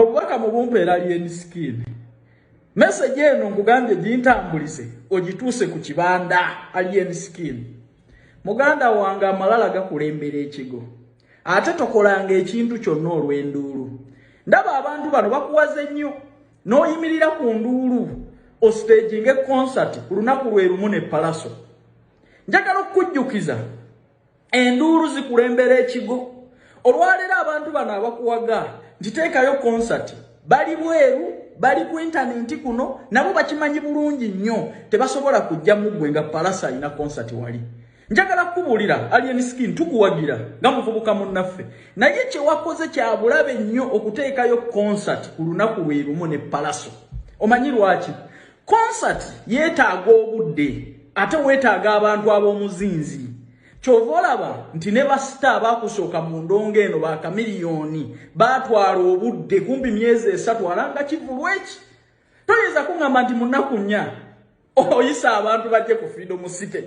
obubaka mu bumpa era lyen skin meseji eno nkugambye gintambulize ogituuse ku kibanda alien skin muganda wange amalala gakulembera ekigo ate tokolanga ekintu kyonna olw'enduulu ndaba abantu bano bakuwaze nnyo n'oyimirira ku nduulu ositeginga ekonsati ku lunaku lwe lumu ne palaso njagala okukujjukiza enduulu zikulembera ekigo olwaleero abantu bano abakuwaga ntiteekayo konsati bali bweru bali ku intanenti kuno nabo bakimanyi bulungi nnyo tebasobola kujja muggwe nga palasa alina konsati wali njagala kukubuulira alien skin tukuwagira nga muvubuka munnaffe naye kyewakoze kyabulabe nnyo okuteekayo konsati ku lunaku lwe lumu ne palaso omanyi lwaki Concert yetaaga obudde ate wetaaga abantu ab'omuzinzi. Kyova olaba nti ne basita abakusooka mu ndongo eno ba kamiliyoni baatwala obudde kumpi myezi esatu alanga kivulu eki. Toyinza kungamba nti munaku nnya oyisa abantu bajje ku Freedom City.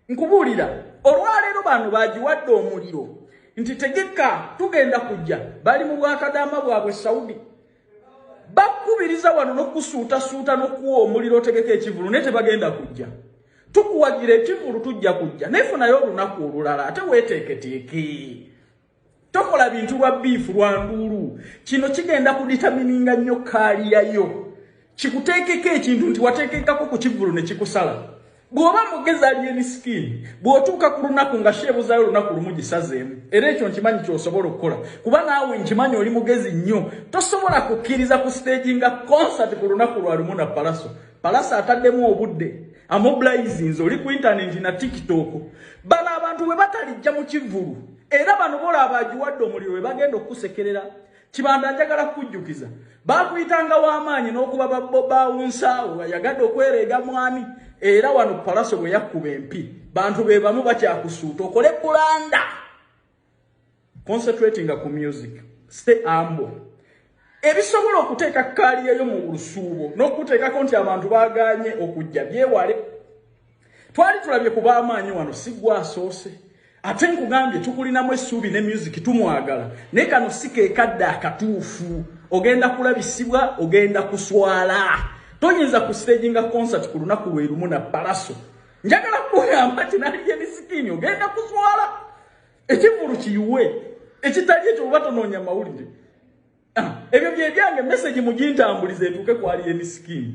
nkubuulira olwaleero bano bagiwadde omuliro nti tegeka tugenda kujja bali mu bwakadaama bwabwe saudi bakubiriza wano nokusuutasuuta nokuwa omuliro otegeka ekivulu naye tebagenda kujja tukuwagira ekivulu tujja kujja naye funayo olunaku olulala ate weteeketeeke tokola bintu lwa biifu lwa nduulu kino kigenda kuditamininga nnyo kaaliya yo kikuteekeko ekintu nti wateekekako ku kivulu ne kikusala bw'oba mugezi aliyeni sikiini bw'otuuka ku lunaku nga sheebuzayo olunaku lumu gisazeemu era ekyo nkimanyi kyosobola okukola kuba naawe nkimanyi oli mugezi nnyo tosobola kukkiriza ku siteegi nga konsati ku lunaku lwa lumu na palaso Palasa ataddemu obudde amobilizinze oli ku intaneti na tiktok bano abantu bwe batalijja mu kivvulu era bano bola abagiwadde omuliro bwe bagenda okukusekerera kibanda njagala kukujjukiza baakuyitanga w'amaanyi n'okuba babawunsaawo yagadde okwereega mwami era wano palaso bwe yakkuba empi bantu be bamu bakyakusuuta okole kulanda concentratinga ku music stay ambo ebisobola okuteeka kaaliyeyo mu lusuubo n'okuteekako nti abantu baaganye okujja byewale twali tulabye ku baamaanyi wano si gwasoose ate nkugambye tukulinamu essuubi ne music tumwagala naye kano si kekadde akatuufu ogenda kulabisibwa ogenda kuswala toyinza ku stagi nga concert ku lunaku lwe lumu na palaso njagala kugamba nti nali ye misikiini ogenda kuswala ekivulu kiyiwe ekitali ekyo oba tonoonya mawulire ah, ebyo byebyange mesegi mugintambuliza etuuke kwali ye misikiini